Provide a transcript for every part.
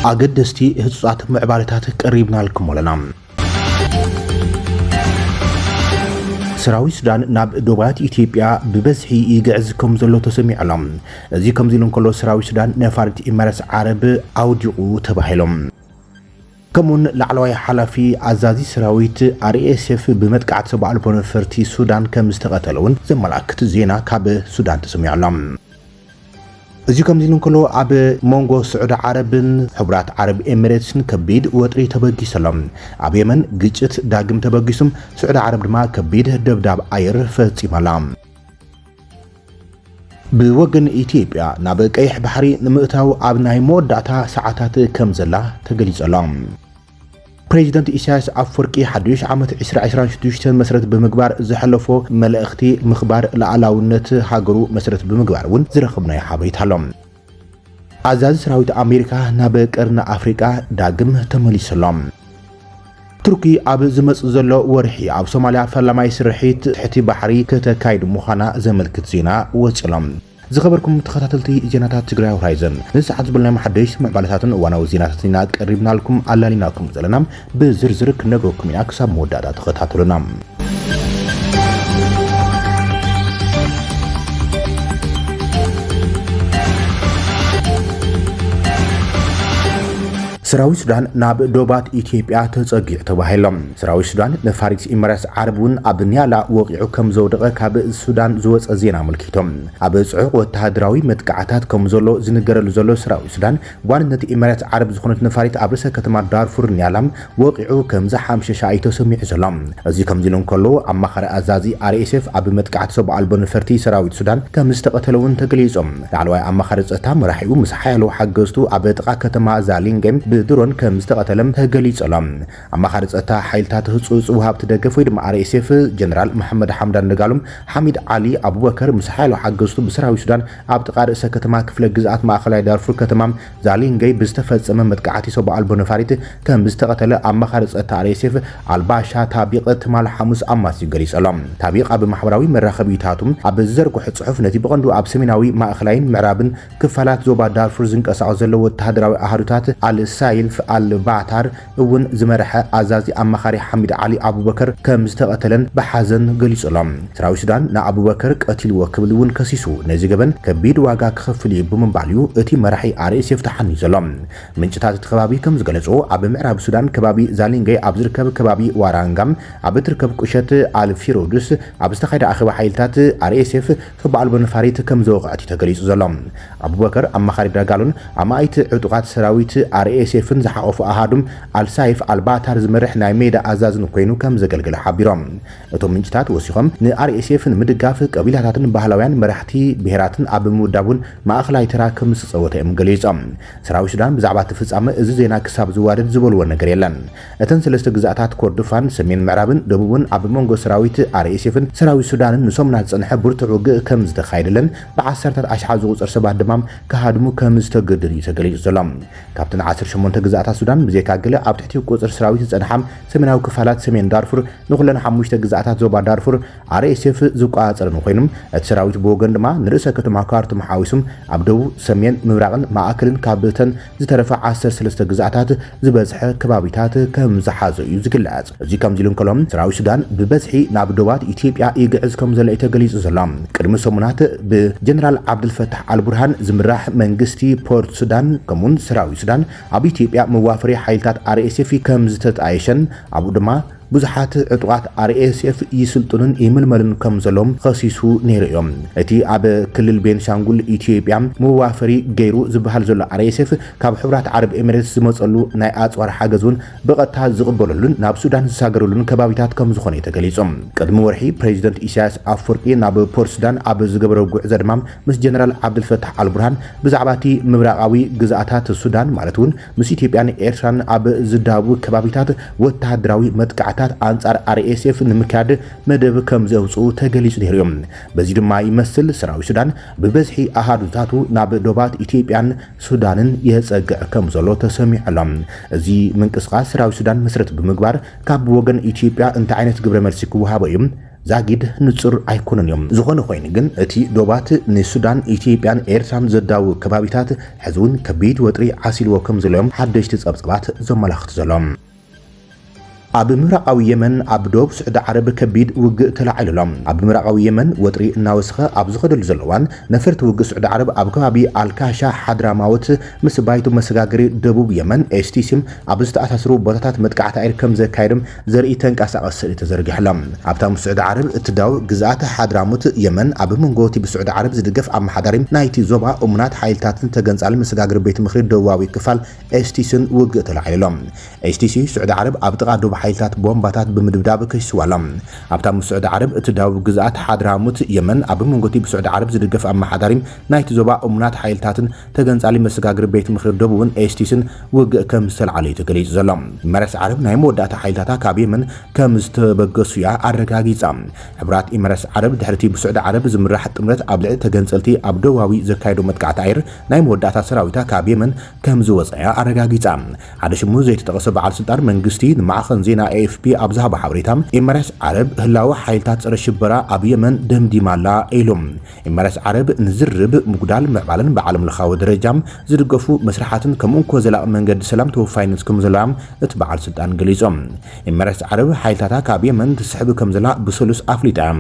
ኣገደስቲ ህጹጻት ምዕባለታት ቀሪብናልኩም ኣለና። ሰራዊት ሱዳን ናብ ዶባት ኢትዮጵያ ብበዝሒ ይግዕዝ ከም ዘሎ ተሰሚዑ ኣሎ። እዚ ከምዚ ኢሉ እንከሎ ሰራዊት ሱዳን ነፋሪት ኢመረትስ ዓረብ ኣውዲቑ ተባሂሎም። ከምኡውን ላዕለዋይ ሓላፊ ኣዛዚ ሰራዊት ኣርኤስኤፍ ብመጥቃዕቲ ሰብ ኣልቦ ነፈርቲ ሱዳን ከም ዝተቐተለ እውን ዘመላክት ዜና ካብ ሱዳን ተሰሚዑ ኣሎ። እዚ ከምዚ ኢሉ እንከሎ ኣብ ሞንጎ ስዑዲ ዓረብን ሕቡራት ዓረብ ኤሚሬትስን ከቢድ ወጥሪ ተበጊሱ ኣሎ። ኣብ የመን ግጭት ዳግም ተበጊሱ፣ ስዑዲ ዓረብ ድማ ከቢድ ደብዳብ ኣየር ፈጺማ ኣላ። ብወገን ኢትዮጵያ ናብ ቀይሕ ባሕሪ ንምእታው ኣብ ናይ መወዳእታ ሰዓታት ከምዘላ ተገሊጸ'ሎ። ፕሬዚደንት ኢሳያስ ኣፍወርቂ ሓዱሽ ዓመት ዕስራ ዕስራን ሽዱሽተን መስረት ብምግባር ዘሕለፎ መልእኽቲ ምኽባር ልኣላውነት ሃገሩ መስረት ብምግባር እውን ዝረኽብናዮ ሓበሬታ ኣሎ። ኣዛዚ ሰራዊት ኣሜሪካ ናብ ቀርኒ ኣፍሪቃ ዳግም ተመሊሱ ኣሎ። ቱርኪ ኣብ ዝመጽእ ዘሎ ወርሒ ኣብ ሶማልያ ፈላማይ ስርሒት ትሕቲ ባሕሪ ከተካይድ ምዃና ዘመልክት ዜና ወጺኡ ኣሎ። ዝኸበርኩም ተኸታተልቲ ዜናታት ትግራይ ሆራይዘን ነዚ ሰዓት ዝበልናዮም ሓደሽቲ ምዕባለታትን እዋናዊ ዜናታትን ኢና ቀሪብናልኩም ኣላሊናኩም ዘለና። ብዝርዝር ክንነግረኩም ኢና ክሳብ መወዳእታ ተኸታተሉና። ሰራዊት ሱዳን ናብ ዶባት ኢትዮጵያ ተጸጊዑ ተባሂሎ። ሰራዊት ሱዳን መፋሪት ኢመራትስ ዓረብ እውን ኣብ ኒያላ ወቂዑ ከም ዘውደቐ ካብ ሱዳን ዝወጸ ዜና ኣመልኪቶም። ኣብ ጽዑቕ ወተሃደራዊ መጥቃዕታት ከም ዘሎ ዝንገረሉ ዘሎ ሰራዊት ሱዳን ዋንነት ኢመራት ዓረብ ዝኾነት ነፋሪት ኣብ ርእሰ ከተማ ዳርፉር ኒያላ ወቒዑ ከምዝሓምሸሻ'ዩ ተሰሚዑ ዘሎ። እዚ ከምዚሉ እንከሎ፣ ኣማኻሪ ኣዛዚ RSF ኣብ መጥቃዕቲ ሰብ ኣልቦ ነፈርቲ ሰራዊት ሱዳን ከምዝተቐተለ'ውን ተገሊጹ። ላዕለዋይ ኣማኻሪ ጸጥታ መራሒኡ ምስ ሓያሎ ሓገዝቱ ኣብ ጥቓ ከተማ ዛሊንገ ብድሮን ከምዝተቐተለ ተገሊጹ'ሎ። ኣማኻሪ ጸጥታ ሓይልታት ህጹጽ ወሃብቲ ደገፍ ወይ ድማ RSF ጀነራል መሓመድ ሓምዳን ደጋሎ፣ ሓሚድ ዓሊ ኣቡበከር፣ ምስ ሓያሎ ሓገዝቱ ብሰራዊት ሱዳን ኣብ ጥቓ ርእሰ ከተማ ክፍለ ግዝኣት ማእከላይ ዳርፉር ከተማ ዛሊንገይ ብዝተፈጸመ መጥቃዕቲ ሰው ኣልቦ ነፋሪት ከምዝተቐተለ ኣማኻሪ ጸጥታ RSF ኣልባሻ ታቢቕ ትማል ሓሙስ ኣማስዩ ገሊጹ ኣሎ። ታቢቕ ኣብ ማሕበራዊ መራኸቢታቱ ኣብ ዝዘርግሖ ጽሑፍ ነቲ ብቐንዱ ኣብ ሰሜናዊ፣ ማእከላይን ምዕራብን ክፋላት ዞባ ዳርፉር ዝንቀሳቐሱ ዘሎ ወተሃደራዊ ኣሃዱታት ኣል-ሳይልፍ ኣል-ባታር እውን ዝመረሐ ኣዛዚ ኣማኻሪ ሓሚድ ዓሊ ኣቡበከር ከምዝተቐተለን ብሓዘን ገሊጹ ኣሎ። ሰራዊት ሱዳን ንኣቡበከር ቀቲልዎ ክብል እውን ከሲሱ፣ ነዚ ገበን ከቢድ ዋጋ ክኸፍል እዩ ብምባል እዩ እቲ መራሒ RSF ተሓንዩ ዘሎ። ምንጭታት እቲ ከባቢ ከምዝገለጽዎ፣ ኣብ ምዕራብ ሱዳን ከባቢ ዛሊንገ ኣብ ዝርከብ ከባቢ ዋራንጋ ኣብ እትርከብ ቁሸት ኣል-ፊሮዱስ ኣብ ዝተኻየደ ኣኼባ ሓይልታት RSF ክብ ኣልቦ ነፋሪት ከም ዘወቕዐት'ዩ ተገሊጹ ዘሎ። ኣቡበከር፣ ኣማኻሪ ዳጋሎን ኣማኢት ዕጡቓት ሰራዊት ኣርኤስኤፍን ዝሓቖፉ ኣሃዱ ኣልሳይፍ ኣልባታር ዝመርሕ ናይ ሜዳ ኣዛዝን ኰይኑ ከም ዘገልገለ ሓቢሮም። እቶም ምንጭታት ወሲኾም፣ ንኣርኤስኤፍ ንምድጋፍ ቀቢላታትን ባህላውያን መራሕቲ ብሄራትን ኣብ ምውዳብ'ውን ማእከላይ ተራ ከም ዝተጸወተ'ዮም ገሊጾም። ሰራዊት ሱዳን ብዛዕባ'ቲ ፍጻመ እዚ ዜና ክሳብ ዝዋደድ ዝበሉዎ ነገር የለን። እተን ሰለስተ ግዝኣታት ኮርዱፋን፣ ሰሜን ምዕራብን ደቡብን ኣብ መንጎ ሰራዊት ኣርኤስኤፍን ሰራዊት ሱዳንን ንሰሙናት ዝጸንሐ ብርቱዕ ውግእ ከም ዝተኻየደለን ብዓሰርታት ኣሽሓት ዝቑጸር ሰባት ድማ ክሃድሙ ከም ዝተገደዱን እዩ ተገሊጹ ዘሎ። ካብተን ዓሰርተ ሸሞንተ ግዝኣታት ሱዳን ብዘይካ ገለ ኣብ ትሕቲ ቁጽሪ ሰራዊት ዝጸንሓ ሰሜናዊ ክፋላት ሰሜን ዳርፉር ንኹለን ሓሙሽተ ግዝኣታት ዞባ ዳርፉር ኣርኤስኤፍ ዝቆጻጸረን ኮይኑ እቲ ሰራዊት ብወገኑ ድማ ንርእሰ ከተማ ካርቱም ሓዊሱ ኣብ ደቡብ፣ ሰሜን፣ ምብራቕን ማእከልን ካብተን ዝተረፈ ዓሰርተ ሰለስተ ግዝኣታት ዝበዝሐ ከባቢታት ከም ዝሓዘ እዩ ዝግለጽ። እዚ ከምዚ ኢሉ እንከሎ፣ ሰራዊት ሱዳን ብበዝሒ ናብ ዶባት ኢትዮጵያ ይግዕዝ ከም ዘሎ እዩ ተገሊጹ ዘሎ። ቅድሚ ሰሙናት ብጀነራል ዓብደልፈታሕ ኣልቡርሃን ዝምራሕ መንግስቲ ፖርት ሱዳን ከምኡ'ውን ሰራዊት ሱዳን ኣብ ኢትዮጵያ መዋፈሪ ሓይልታት RSF ከም ዝተጣየሸን ኣብኡ ድማ ብዙሓት ዕጡቓት RSF ይስልጥኑን ይምልመሉን ከምዘለዉ ኸሲሱ ነይሩ እዩ። እቲ ኣብ ክልል ቤንሻንጉል ኢትዮጵያ መዋፈሪ ገይሩ ዝበሃል ዘሎ RSF ካብ ሕቡራት ዓረብ ኤሚሬትስ ዝመፀሉ ናይ ኣፅዋር ሓገዝ እውን ብቐጥታ ዝቕበለሉን ናብ ሱዳን ዝሳገረሉን ከባቢታት ከምዝኾነ እዩ ተገሊፁ። ቅድሚ ወርሒ ፕሬዚደንት ኢሳያስ ኣፍወርቂ ናብ ፖርትሱዳን ኣብ ዝገበሮ ጉዕዞ ድማ ምስ ጀነራል ዓብደልፈታሕ ኣልቡርሃን ብዛዕባ እቲ ምብራቓዊ ግዝኣታት ሱዳን ማለት እውን ምስ ኢትዮጵያን ኤርትራን ኣብ ዝዳብቡ ከባቢታት ወተሃደራዊ መጥቃዕትታት ኣንጻር RSF ንምክያድ መደብ ከምዘውጽኡ ተገሊጹ ነይሩ'ዩ። በዚ ድማ ይመስል ሰራዊት ሱዳን ብበዝሒ ኣሃዱታቱ ናብ ዶባት ኢትዮጵያን ሱዳንን የጸግዕ ከምዘሎ ተሰሚዑ ኣሎ። እዚ ምንቅስቓስ ሰራዊት ሱዳን መሰረት ብምግባር ካብ ወገን ኢትዮጵያ እንታይ ዓይነት ግብረ መልሲ ክወሃቦ'ዩ? ዛጊድ ንጹር ኣይኮነን እዩ። ዝኾነ ኮይኑ ግን እቲ ዶባት ንሱዳን፣ ኢትዮጵያን ኤርትራን ዘዳውብ ከባቢታት ሕዚ እውን ከቢድ ወጥሪ ዓሲልዎ ከምዘሎ እዮም ሓደሽቲ ጸብጻባት ዘመላኽቱ ዘሎ። ኣብ ምብራቓዊ የመን ኣብ ዶብ ስዑዲ ዓረብ ከቢድ ውግእ ተላዒሉ ኣሎ። ኣብ ምብራቓዊ የመን ወጥሪ እናወሰኸ ኣብ ዝኸደሉ ዘሎ እዋን፣ ነፈርቲ ውግእ ስዑዲ ዓረብ ኣብ ከባቢ ኣልካሻ ሓድራማውት ምስ ባይቶ መሰጋገሪ ደቡብ የመን፣ ኤስቲሲም፣ ኣብ ዝተኣሳሰሩ ቦታታት መጥቃዕቲ ኣየር ከምዘካየዱ ዘርኢ ተንቀሳቓሲ ስእሊ ተዘርጊሑ'ሎ። ኣብታ ምስ ስዑዲ ዓረብ እትዳወብ ግዝኣት ሓድራሞት፣ የመን፣ ኣብ መንጎ'ቲ ብስዑዲ ዓረብ ዝድገፍ ኣመሓዳሪ ናይቲ ዞባ እሙናት ሓይልታትን ተገንጻሊ መሰጋገሪ ቤት ምኽሪ ደቡባዊ ክፋል ኤስቲሲን ውግእ ተላዒሉ'ሎ። ኤስቲሲ፣ ስዑዲ ዓረብ ኣብ ጥቓ ዶብ ሓይልታት ቦምባታት ብምድብዳብ ከሲስዋ'ሎ። ኣብታ ምስ ስዑዲ ዓረብ እትዳወብ ግዝኣት ሓድራሞት፣ የመን፣ ኣብ መንጎ'ቲ ብስዑዲ ዓረብ ዝድገፍ ኣመሓዳሪ ናይቲ ዞባ እሙናት ሓይልታትን ተገንጻሊ መሰጋግሪ ቤት ምኽሪ ደቡብን ኤስቲስን ውግእ ከም ዝተልዓለ እዩ ተገሊጹ ዘሎ። ኢመረትስ ዓረብ ናይ መወዳእታ ሓይልታታ ካብ የመን ከም ዝተበገሱ እያ ኣረጋጊጻ። ሕቡራት ኢመረትስ ዓረብ ድሕሪ'ቲ ብሱዕዲ ዓረብ ዝምራሕ ጥምረት ኣብ ልዕሊ ተገንጸልቲ ኣብ ደቡባዊ ዘካየዶ መጥቃዕቲ ኣየር ናይ መወዳእታ ሰራዊታ ካብ የመን ከም ዝወጽኣ እያ ኣረጋጊጻ። ሓደ ሽሙ ዘይተጠቐሰ በዓል ስልጣን መንግስቲ ንማዕኸን ዜና ኤኤፍፒ ኣብ ዝሃቦ ሓበሬታ ኢመረትስ ዓረብ ህላወ ሓይልታት ጸረ ሽበራ ኣብ የመን ደምዲማ ኣላ ኢሉ። ኢማራት ዓረብ ንዝርርብ፣ ምጉዳል፣ ምዕባለን ብዓለምለኻዊ ደረጃ ዝድገፉ መስርሓትን ከም እንኮ ዘላቒ መንገዲ ሰላም ተወፋይነት ከም ዘሎዋ እቲ በዓል ስልጣን ገሊጾም። ኢማራት ዓረብ ሓይልታታ ካብ የመን ትስሕብ ከም ዘላ ብሰሉስ ኣፍሊጣ እያ።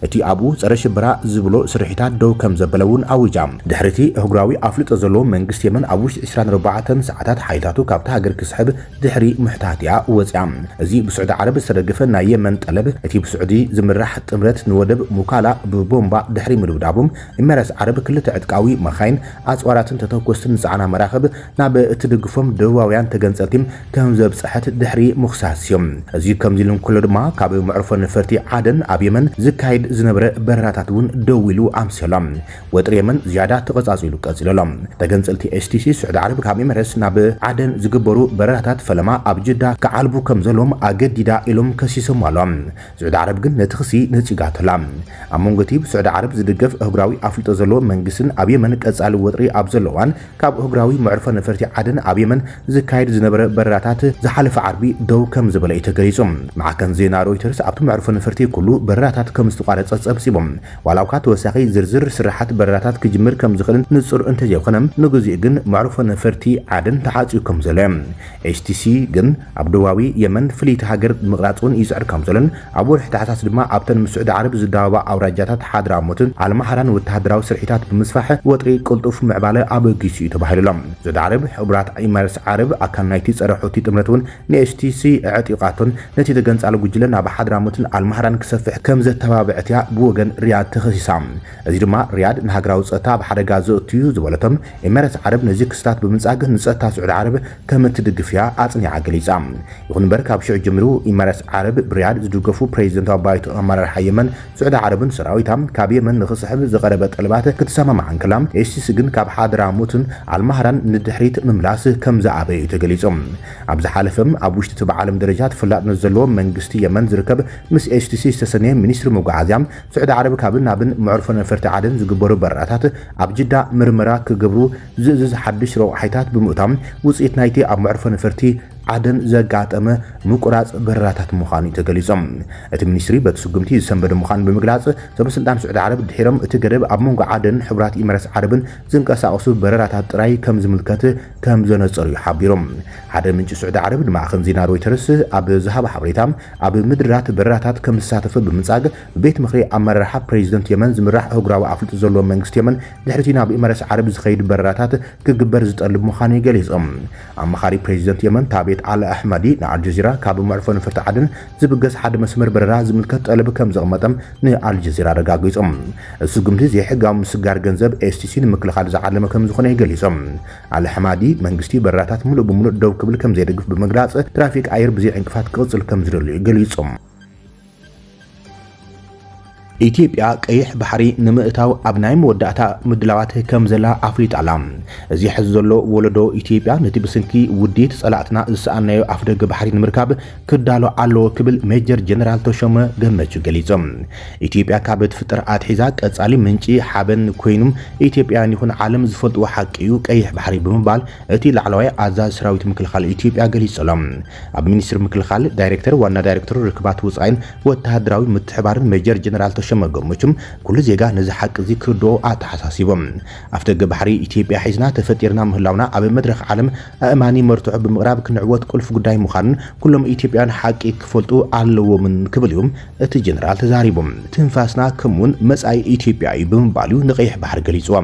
እቲ ኣብኡ ጸረ ሽበራ ዝብሎ ስርሒታት ደው ከም ዘበለ እውን ኣዊጃ። ድሕሪ'ቲ ኣህጉራዊ ኣፍልጦ ዘለዎ መንግስቲ የመን ኣብ ውሽጢ ዕስራን ኣርባዕተን ሰዓታት ሓይልታቱ ካብታ ሃገር ክስሕብ ድሕሪ ምሕታት'ያ ወጺኣ። እዚ ብስዑዲ ዓረብ ዝተደገፈ ናይ የመን ጠለብ፣ እቲ ብስዑዲ ዝምራሕ ጥምረት ንወደብ ሙካላ ብቦምባ ድሕሪ ምድብዳቡ፣ ኢመራት ዓረብ ክልተ ዕጥቃዊ መኻይን፣ ኣጽዋራትን ተተኮስትን ዝጸዓና መራኽብ ናብ እትድግፎም ደቡባውያን ተገንጸልቲ ከምዘብጸሐት ድሕሪ ምኽሳስ'ዩ። እዚ ከምዚ'ሉ እንከሎ ድማ ካብ መዕርፎ ነፈርቲ ዓደን ኣብ የመን ዝካየድ ዝነበረ በረራታት'ውን ደው ኢሉ ኣምስዮ'ሎ። ወጥሪ የመን ዝያዳ ተቐጻጺሉ ቀጺሉ ኣሎ። ተገንጸልቲ ኤስቲሲ ስዑዲ ዓረብ ካብ ኤመረትስ ናብ ዓደን ዝግበሩ በረራታት ፈለማ ኣብ ጅዳ ክዓልቡ ከም ዘለዎም ኣገዲዳ ኢሎም ከሲሶምዋ ኣለዋ። ስዑዲ ዓረብ ግን ነቲ ክሲ ነጺጋቶ ኣላ። ኣብ መንጎ'ቲ ብስዑዲ ዓረብ ዝድገፍ ኣህጉራዊ ኣፍልጦ ዘለዎ መንግስትን ኣብ የመን ቀጻሊ ወጥሪ ኣብ ዘሎ እዋን ካብ ኣህጉራዊ መዕርፎ ነፈርቲ ዓደን ኣብ የመን ዝካየድ ዝነበረ በረራታት ዝሓለፈ ዓርቢ ደው ከም ዝበለ'ዩ ተገሊጹ። ማዕከን ዜና ሮይተርስ ኣብቲ መዕርፎ ነፈርቲ ኩሉ በረራታት ከም ዝተቋረጸ ጸብጺቡ። ዋላ'ኳ ተወሳኺ ዝርዝር ስርሓት በረራታት ክጅምር ከም ዝኽእልን ንጹር እንተዘይኮነ፣ ንግዚኡ ግን መዕርፎ ነፈርቲ ዓደን ተዓጽዩ ከም ዘሎ'ዩ። HTC ግን ኣብ ደቡባዊ የመን ፍልይቲ ሃገር ንምቕራጽ'ውን ይጽዕር ከም ዘሎን ኣብ ወርሒ ታሕሳስ ድማ ኣብተን ምስ ስዑዲ ዓረብ ዝዳወባ ኣውራጃታት ሓድራሞትን ኣልማህራን ወተሃደራዊ ስርሒታት ብምስፋሕ ወጥሪ ቅልጡፍ ምዕባለ ኣበጊሱ'ዩ ተባሂሉ'ሎ። ስዑዲ ዓረብ፣ ሕቡራት ኢማረትስ ዓረብ፣ ኣካል ናይቲ ጸረ-ሑቲ ጥምረት'ውን ንኤችቲሲ ኣዕጢቓቶን ነቲ ተገንጻሊ ጉጅለ ናብ ሓድራሞትን ኣልማህራን ክሰፍሕ ከም ዘተባብዐት'ያ ብወገን ሪያድ ተኸሲሳ። እዚ ድማ ሪያድ ንሃገራዊ ጸጥታ ኣብ ሓደጋ ዘእቱ'ዩ ዝበለቶም ኤመሬት ዓረብ ነዚ ክስታት ብምንጻግ ንጸጥታ ስዑዲ ዓረብ ከም እትድግፍ'ያ ኣጽኒዓ ገሊጻ። ይኹን'ምበር ካብ ሽዑ ጀሚሩ ኤመሬት ዓረብ ብሪያድ ዝድገፉ ፕሬዚደንታዊ ባይቶ ኣመራርሓ የመን ስዑዲ ዓረብን ሰራዊታ ካብ የመን ንኽስሕብ ዝቐረበ ጠለባት ክትሰማማዕ እንከላ ኤችቲሲ ግን ካብ ሓድራሞትን ኣልማህራን ንድሕሪት ምምላስ ከም ዝኣበየ'ዩ ተገሊጹ። ኣብ ዝሓለፈ ኣብ ውሽጢ እቲ ብዓለም ደረጃ ተፈላጥነት ዘለዎ መንግስቲ የመን ዝርከብ ምስ ኤችቲሲ ዝተሰነየ ሚኒስትሪ መጓዓዝያ ስዑዲ ዓረብ ካብን ናብን መዕርፎ ነፈርቲ ዓደን ዝግበሩ በረራታት ኣብ ጅዳ ምርመራ ክገብሩ ዝእዝዝ ሓድሽ ረቑሓይታት ብምእታው ውፅኢት ናይቲ ኣብ መዕርፎ ነፈርቲ ዓደን ዘጋጠመ ምቁራፅ በረራታት ምዃኑ እዩ ተገሊፆም። እቲ ሚኒስትሪ በቲ ስጉምቲ ዝሰንበደ ምዃኑ ብምግላፅ ሰበስልጣን ስዑዲ ዓረብ ድሒሮም እቲ ገደብ ኣብ መንጎ ዓደንን ሕቡራት ኢመረትስ ዓረብን ዝንቀሳቐሱ በረራታት ጥራይ ከምዝምልከት ከም ዘነጸሩ'ዩ ሓቢሩ። ሓደ ምንጪ ስዑዲ ዓረብ ንማዕከን ዜና ሮይተርስ ኣብ ዝሃቦ ሓበሬታ፣ ኣብ ምድራት በረራታት ከም ዝሳተፈ ብምንጻግ፣ ብቤት ምኽሪ ኣመራርሓ ፕረዚደንት የመን ዝምራሕ ኣህጉራዊ ኣፍልጦ ዘለዎ መንግስቲ የመን ድሕሪ'ቲ ናብ ኤመረስ ዓረብ ዝኸይድ በረራታት ክግበር ዝጠልብ ምዃኑ'ዩ ገሊጹ። ኣማኻሪ ፕረዚደንት የመን ታቤት ኣል ኣሕማዲ ንኣልጀዚራ ካብ መዕርፎ ነፈርቲ ዓደን ዝብገስ ሓደ መስመር በረራ ዝምልከት ጠለብ ከም ዘቕመጠ ንኣልጀዚራ ኣረጋጊጹ። እቲ ስጉምቲ ዘይሕጋዊ ምስጋር ገንዘብ STC ንምክልኻል ዝዓለመ ከም ዝኾነ'ዩ ገሊጹ። ኣልሓማዲ፣ መንግስቲ በረራታት ምሉእ ብምሉእ ደው ክብል ከም ዘይደግፍ ብምግላጽ፣ ትራፊክ ኣየር ብዘይ ዕንቅፋት ክቕጽል ከም ዝደሊ'ዩ ገሊጹ። ኢትዮጵያ ቀይሕ ባሕሪ ንምእታው ኣብ ናይ መወዳእታ ምድላዋት ከም ዘላ ኣፍሊጣ ኣላ። እዚ ሕዚ ዘሎ ወለዶ ኢትዮጵያ ነቲ ብስንኪ ውዲት ጸላእትና ዝሰኣንናዮ ኣፍደገ ባሕሪ ንምርካብ ክዳሎ ኣለዎ ክብል ሜጀር ጀነራል ተሾመ ገመቹ ገሊጹ። ኢትዮጵያ ካብ እትፍጠር ኣትሒዛ ቀጻሊ ምንጪ ሓበን ኮይኑ ኢትዮጵያውያን ይኹን ዓለም ዝፈልጥዎ ሓቂ'ዩ ቀይሕ ባሕሪ ብምባል እቲ ላዕለዋይ ኣዛዚ ሰራዊት ምክልኻል ኢትዮጵያ ገሊጹ ኣሎ። ኣብ ሚኒስትሪ ምክልኻል ዳይሬክተር ዋና ዳይሬክተር ርክባት ወፃኢን ወተሃደራዊ ምትሕብባርን ሜጀር ጀነራል ተሾመ ገመቹ ኩሉ ዜጋ ነዚ ሓቂ እዚ ክርድኦ ኣተሓሳሲቦም። ኣፍደገ ባሕሪ ኢትዮጵያ ሒዝና ተፈጢርና ምህላውና ኣብ መድረኽ ዓለም ኣእማኒ መርትዖ ብምቕራብ ክንዕወት ቁልፊ ጉዳይ ምዃኑን ኩሎም ኢትዮጵያውያን ሓቂ ክፈልጡ ኣለዎምን ክብል እዩ እቲ ጀነራል ተዛሪቡ። ትንፋስና ከምኡ'ውን መፃኢ ኢትዮጵያ እዩ ብምባል እዩ ንቀይሕ ባሕሪ ገሊፁዎ።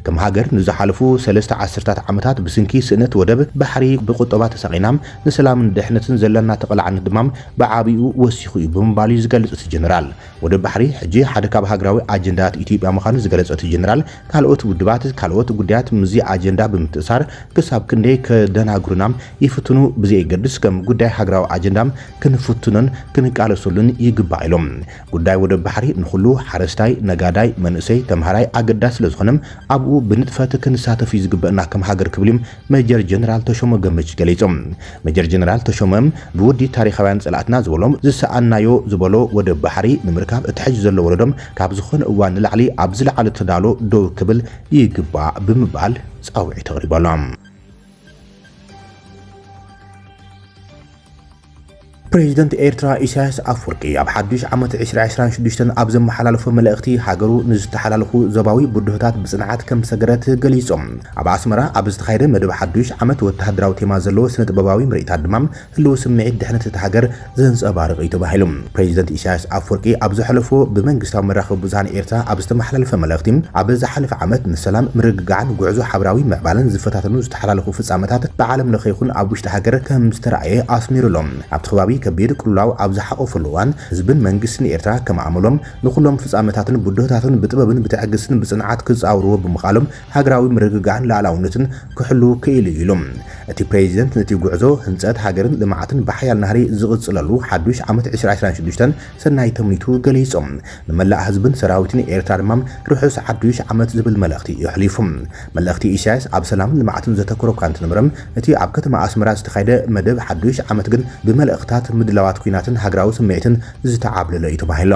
ከም ሃገር ንዝሓለፉ ሰለስተ ዓሰርታት ዓመታት ብስንኪ ስእነት ወደብ ባሕሪ ብቁጠባ ተሳቒና፣ ንሰላምን ድሕነትን ዘለና ተቓላዕነት ድማ ብዓቢኡ ወሲኹ እዩ ብምባል እዩ ዝገልጽ እቲ ጀነራል። ወደብ ባሕሪ ሕጂ ሓደ ካብ ሃገራዊ ኣጀንዳታት ኢትዮጵያ ምዃኑ ዝገለጸ እቲ ጀነራል፣ ካልኦት ውድባት ካልኦት ጉዳያት ምስዚ ኣጀንዳ ብምትእሳር ክሳብ ክንደይ ከደናግሩና ይፍትኑ ብዘየገድስ ከም ጉዳይ ሃገራዊ ኣጀንዳ ክንፍትኖን ክንቃለሰሉን ይግባእ ኢሎም። ጉዳይ ወደብ ባሕሪ ንኹሉ ሓረስታይ፣ ነጋዳይ፣ መንእሰይ፣ ተምሃራይ ኣገዳሲ ስለዝኾነ ኣብኡ ብንጥፈት ክንሳተፍ እዩ ዝግበእና ከም ሃገር ክብሉ ሜጀር ጀነራል ተሾመ ገመቹ ገሊፆም። ሜጀር ጀነራል ተሾመ ብወዲ ታሪኻውያን ፀላእትና ዝበሎም ዝሰኣንናዮ ዝበሎ ወደብ ባሕሪ ንምርካብ እቲ ሕዚ ዘሎ ወለዶ ካብ ዝኾነ እዋን ንላዕሊ ኣብ ዝለዓለ ተዳሎ ደው ክብል ይግባእ ብምባል ፃውዒት ኣቕሪቦሎም። ፕሬዚደንት ኤርትራ ኢሳያስ ኣፍወርቂ ኣብ ሓዱሽ ዓመት ዕስራ ዕስራን ሽዱሽተን ኣብ ዘመሓላለፎ መልእኽቲ ሃገሩ ንዝተሓላለኹ ዞባዊ ብድሆታት ብፅንዓት ከም ዝሰገረት ገሊፁ። ኣብ ኣስመራ ኣብ ዝተኻየደ መደብ ሓዱሽ ዓመት ወተሃደራዊ ቴማ ዘለዎ ስነ ጥበባዊ ምርኢታት ድማ ህልዊ ስምዒት ድሕነት እታ ሃገር ዘንፀባርቕ እዩ ተባሂሉ። ፕረዚደንት ኢሳያስ ኣፍወርቂ ኣብ ዘሕለፎ ብመንግስታዊ መራኸቢ ብዙሃን ኤርትራ ኣብ ዝተመሓላለፈ መልእኽቲ፣ ኣብ ዝሓለፈ ዓመት ንሰላም፣ ምርግጋዕን ጉዕዞ ሓበራዊ ምዕባለን ዝፈታተኑ ዝተሓላለኹ ፍጻመታት ብዓለም ለኸ ይኹን ኣብ ውሽጢ ሃገር ከምዝተራእየ ኣስሚሩ ኣሎ። ኣብቲ ከባቢ ከቢድ ቅልውላው ኣብ ዝሓቖፈሉ እዋን፣ ህዝብን መንግስትን ኤርትራ ከም ኣመሎም ንኹሎም ፍጻመታትን ብድሆታትን ብጥበብን ብትዕግስትን ብጽንዓት ክጻወርዎ ብምኽኣሎም ሃገራዊ ምርግጋዕን ልኣላውነትን ክሕሉ ክኢሉ እዩ ኢሉ። እቲ ፕሬዚደንት ነቲ ጉዕዞ ህንፀት ሃገርን ልምዓትን ብሓያል ናህሪ ዝቕፅለሉ ሓዱሽ ዓመት ዕስራ ዕስራን ሽዱሽተን ሰናይ ተምኒቱ ገሊፆም። ንመላእ ህዝብን ሰራዊትን ኤርትራ ድማ ርሑስ ሓዱሽ ዓመት ዝብል መልእኽቲ የሕሊፉ። መልእኽቲ ኢሳያስ ኣብ ሰላምን ልምዓትን ዘተኮረ እኳ እንተነበረ እቲ ኣብ ከተማ ኣስመራ ዝተኻየደ መደብ ሓዱሽ ዓመት ግን ብመልእኽትታት ምድላዋት ኲናትን ሃገራዊ ስምዒትን ዝተዓብለለ እዩ ተባሂሉ።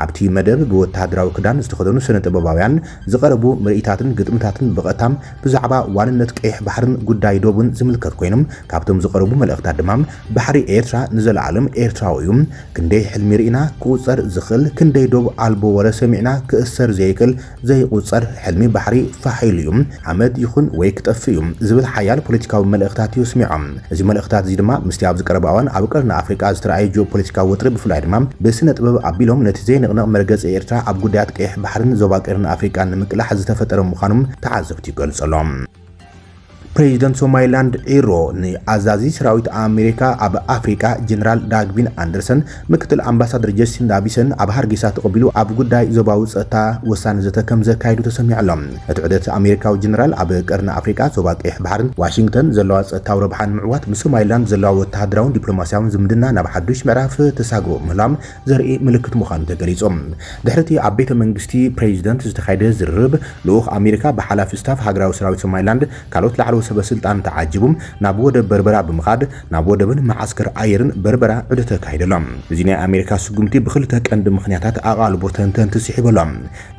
ኣብቲ መደብ ብወተሃደራዊ ክዳን ዝተኸደኑ ስነ ጥበባውያን፣ ዝቐረቡ ምርኢታትን ግጥምታትን ብቐጥታ ብዛዕባ ዋንነት ቀይሕ ባሕርን ጉዳይ ዶብን ዝምልከት ኮይኑ፣ ካብቶም ዝቐረቡ መልእኽታት ድማ ባሕሪ ኤርትራ ንዘለኣለም ኤርትራዊ እዩ፣ ክንደይ ሕልሚ ርኢና ክቑጸር ዝኽእል፣ ክንደይ ዶብ ኣልቦ ወረ ሰሚዕና ክእሰር ዘይክእል ዘይቑጸር ሕልሚ ባሕሪ ፋሕ ኢሉ እዩ፣ ሓመድ ይኹን ወይ ክጠፍእ እዩ ዝብል ሓያል ፖለቲካዊ መልእኽታት እዩ ስሚዖም። እዚ መልእኽታት እዚ ድማ ምስቲ ኣብዚ ቀረባ እዋን ኣብ ቀርኒ ኣፍሪቃ ዝተራእየ ጂኦፖለቲካዊ ወጥሪ ብፍላይ ድማ ብስነ-ጥበብ ኣቢሎም ነቲ ዘይንቕነቕ መርገጺ ኤርትራ ኣብ ጉዳያት ቀይሕ ባሕርን ዞባ ቀርኒ ኣፍሪቃን ንምቅላሕ ዝተፈጠረ ምዃኑ ተዓዘብቲ ይገልጹ ኣሎም። ፕሬዚደንት ሶማሊላንድ ዒሮ ንኣዛዚ ሰራዊት ኣሜሪካ ኣብ ኣፍሪቃ ጀነራል ዳግቪን ኣንደርሰን ምክትል ኣምባሳደር ጀሲንዳ ቢሰን ኣብ ሃርጌሳ ተቐቢሉ ኣብ ጉዳይ ዞባዊ ጸጥታ ወሳኒ ዘተ ከምዘካይዱ ተሰሚዑ ኣሎ። እቲ ዑደት ኣሜሪካዊ ጀነራል ኣብ ቀርኒ ኣፍሪቃ፣ ዞባ ቀይሕ ባሕርን ዋሽንግተን ዘለዋ ጸጥታዊ ረብሓን ንምዕዋት ምስ ሶማሊላንድ ዘለዋ ወተሃደራውን ዲፕሎማስያውን ዝምድና ናብ ሓዱሽ ምዕራፍ ተሳግሮ ምህላዋም ዘርኢ ምልክት ምዃኑ ተገሊጹ። ድሕሪ'ቲ ኣብ ቤተ መንግስቲ ፕሬዚደንት ዝተኻየደ ዝርርብ፣ ልኡኽ ኣሜሪካ ብሓላፊ ስታፍ ሃገራዊ ሰራዊት ሶማሊላንድ ካልኦት ላዕለዎት ሰበ ስልጣንን ተዓጂቡ ናብ ወደብ በርበራ ብምኻድ ናብ ወደብን መዓስከር ኣየርን በርበራ ዑደት ኣካይዱ ኣሎ። እዚ ናይ ኣሜሪካ ስጉምቲ ብኽልተ ቀንዲ ምኽንያታት ኣቓልቦ ተንተንቲ ስሒቡ ኣሎ።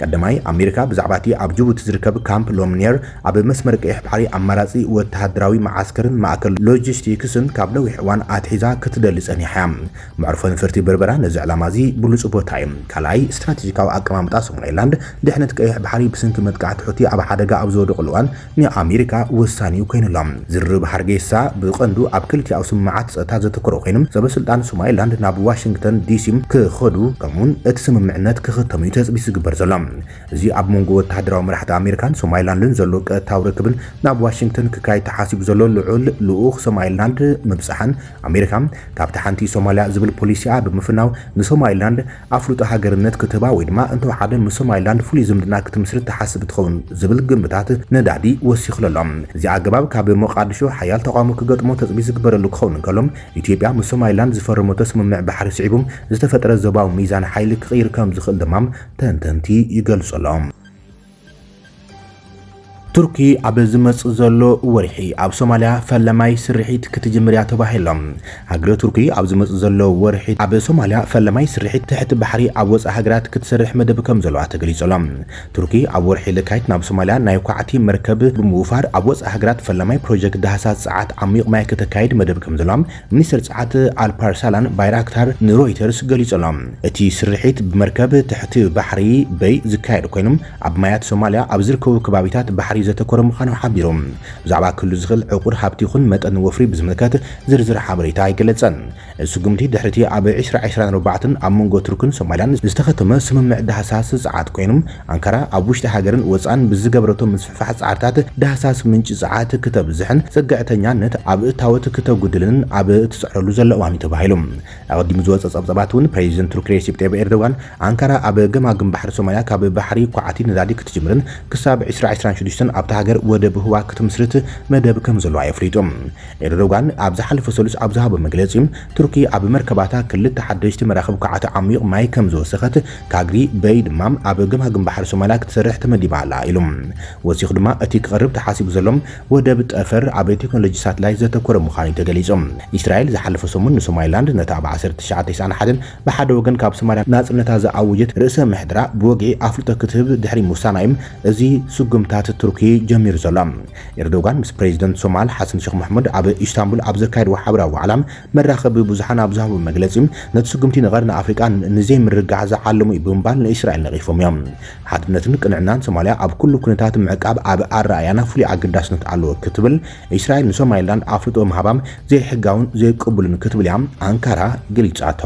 ቀዳማይ፣ ኣሜሪካ ብዛዕባ'ቲ ኣብ ጅቡቲ ዝርከብ ካምፕ ሎምንየር ኣብ መስመር ቀይሕ ባሕሪ ኣማራጺ ወተሃደራዊ መዓስከርን ማእከል ሎጂስቲክስን ካብ ነዊሕ እዋን ኣትሒዛ ክትደሊ ጸኒሓ እያ። መዕርፎ ነፈርቲ በርበራ ነዚ ዕላማ'ዚ ብሉጽ ቦታ እዩ። ካልኣይ፣ ስትራቴጂካዊ ኣቀማምጣ ሶማሊላንድ፣ ድሕነት ቀይሕ ባሕሪ ብስንኪ መጥቃዕቲ ሑቲ ኣብ ሓደጋ ኣብ ዝወደቑሉ እዋን፣ ንኣሜሪካ ወሳኒ'ዩ ኮይኑ'ሎ። ዝርርብ ሃርጌሳ ብቐንዱ ኣብ ክልቲኣዊ ስምምዓት ጸጥታ ዘተኮረ ኮይኑ፣ ሰበስልጣን ሶማሊላንድ ናብ ዋሽንግተን ዲሲ ክኸዱ ከምኡ'ውን እቲ ስምምዕነት ክኽተም'ዩ ተጽቢት ዝግበር ዘሎ። እዚ ኣብ መንጎ ወተሃደራዊ መራሕቲ ኣሜሪካን ሶማሊላንድን ዘሎ ቀጥታዊ ርክብን ናብ ዋሽንግተን ክካየድ ተሓሲቡ ዘሎ ልዑል ልኡኽ ሶማሊላንድ ምብጻሕን ኣሜሪካ ካብታ ሓንቲ ሶማልያ ዝብል ፖሊሲኣ ብምፍናው ንሶማሊላንድ ኣፍልጦ ሃገርነት ክትህባ ወይ ድማ እንተወሓደ ምስ ሶማሊላንድ ፍሉይ ዝምድና ክትምስርት ትሓስብ ትኸውን ዝብል ግምታት ነዳዲ ወሲኹሉ ኣሎ። እዚ ኣገባብ ካብ ሞቓድሾ ሓያል ተቓውሞ ክገጥሞ ተፅቢት ዝግበረሉ ክኸውን እንከሎ፣ ኢትዮጵያ ምስ ሶማሊላንድ ዝፈረመቶ ስምምዕ ባሕሪ ስዒቡ ዝተፈጥረ ዞባዊ ሚዛን ሓይሊ ክቕይር ከምዝኽእል ድማ ተንተንቲ ይገልፁ ኣለው። ቱርኪ ኣብ ዝመጽእ ዘሎ ወርሒ ኣብ ሶማልያ ፈለማይ ስርሒት ክትጅምር እያ ተባሂሉ። ሃገረ ቱርኪ ኣብ ዝመጽእ ዘሎ ወርሒ ኣብ ሶማልያ ፈለማይ ስርሒት ትሕቲ ባሕሪ ኣብ ወጻኢ ሃገራት ክትሰርሕ መደብ ከም ዘለዋ ተገሊጹ ኣሎ። ቱርኪ ኣብ ወርሒ ለካቲት ናብ ሶማልያ ናይ ኳዕቲ መርከብ ብምውፋር ኣብ ወጻኢ ሃገራት ፈለማይ ፕሮጀክት ዳህሳስ ጸዓት ዓሚዩቕ ማይ ከተካይድ መደብ ከም ዘለዋ ሚኒስትር ጸዓት ኣልፓርሳላን ባይራክታር ንሮይተርስ ገሊጹ ኣሎ። እቲ ስርሒት ብመርከብ ትሕቲ ባሕሪ፣ በይ፣ ዝካየድ ኮይኑ፣ ኣብ ማያት ሶማልያ ኣብ ዝርከቡ ከባቢታት ባሕሪ ዘተኮረ ምዃኑ ሓቢሩ። ብዛዕባ ክህሉ ዝኽእል ዕቑር ሃብቲ ይኹን መጠን ወፍሪ ብዝምልከት ዝርዝር ሓበሬታ ኣይገለጸን። እዚ ስጉምቲ ድሕሪ'ቲ ኣብ ዕስራ ዕስራን ኣርባዕተን ኣብ መንጎ ቱርክን ሶማልያን ዝተኸተመ ስምምዕ ዳህሳስ ጸዓት ኮይኑ፣ ኣንካራ ኣብ ውሽጢ ሃገርን ወጻእን ብዝገብረቶ ምስፍሕፋሕ ጻዕርታት ዳህሳስ ምንጪ ጸዓት ክተብዝሕን ጽግዕተኛነት ኣብ እታወት ክተጉድልን ኣብ እትጽዕረሉ ዘላ እዋን'ዩ ተባሂሉ። ኣቐዲሙ ዝወጸ ጸብጻባት'ውን ፕረዚደንት ቱርኪ ሬሲፕ ጠይብ ኤርዶጋን ኣንካራ ኣብ ገማግም ባሕሪ ሶማልያ ካብ ባሕሪ ኳዕቲ ነዳዲ ክትጅምርን ክሳብ ዕስራ ዕስራን ሽዱሽተን ኣብታ ሃገር ወደብ ህዋ ክትምስርት መደብ ከምዘለዋ የፍሊጡ። ኤርዶጋን ኣብ ዝሓለፈ ሰሉስ ኣብ ዝሃቦ መግለጺ ቱርኪ ኣብ መርከባታ ክልተ ሓደሽቲ መራኽብ ኳዕቲ ዓሚዩቕ ማይ ከምዝወሰኸት ካግሪ በይ ድማ ኣብ ገማግም ባሕሪ ሶማልያ ክትሰርሕ ተመዲባ ኣላ ኢሉ። ወሲኹ ድማ እቲ ክቐርብ ተሓሲቡ ዘሎ ወደብ ጠፈር ኣብ ቴክኖሎጂ ሳትላይት ዘተኮረ ምዃኑ'ዩ ተገሊጹ። ኢስራኤል ዝሓለፈ ሰሙን ንሶማሊላንድ ነታ ኣብ ዓሰርተ ትሽዓተ ቴስዓን ሓደን ብሓደ ወገን ካብ ሶማልያ ናጽነታ ዝኣወጀት ርእሰ ምሕደራ ብወግዒ ኣፍልጦ ክትህብ ድሕሪ ምውሳና'ዩ እዚ ስጉምታት ቱርኪ ጀሚሩ ዘሎ። ኤርዶጋን ምስ ፕረዚደንት ሶማል ሓሰን ሸኽ መሕሙድ ኣብ ኢስታንቡል ኣብ ዘካየድዎ ሓበራዊ ዋዕላ፣ መራኸቢ ብዙሓን ኣብ ዝሃቦ መግለጺ፣ ነቲ ስጉምቲ ንቐርኒ ኣፍሪቃ ንዘይምርግጋዕ ዝዓለመ'ዩ ብምባል ንእስራኤል ነቒፎም'ዮም። ሓድነትን ቅንዕናን ሶማልያ ኣብ ኩሉ ኩነታት ምዕቃብ ኣብ ኣረኣእያና ፍሉይ ኣገዳስነት ኣለዎ ክትብል እስራኤል ንሶማሊላንድ ኣፍልጦ ምሃባ ዘይሕጋውን ዘይቅቡልን ክትብል'ያ ኣንካራ ገሊጻቶ።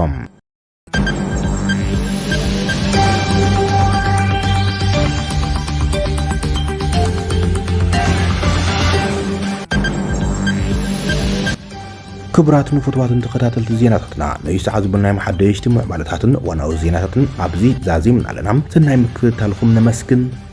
ክቡራት ንፍትዋትን ተኸታተልቲ ዜናታትና ነዩ ሰዓት ዝብልናይ መሓደሽቲ ምዕባለታትን ዋናዊ ዜናታትን ኣብዚ ዛዚምና ኣለና ሰናይ ምክትታልኹም ነመስግን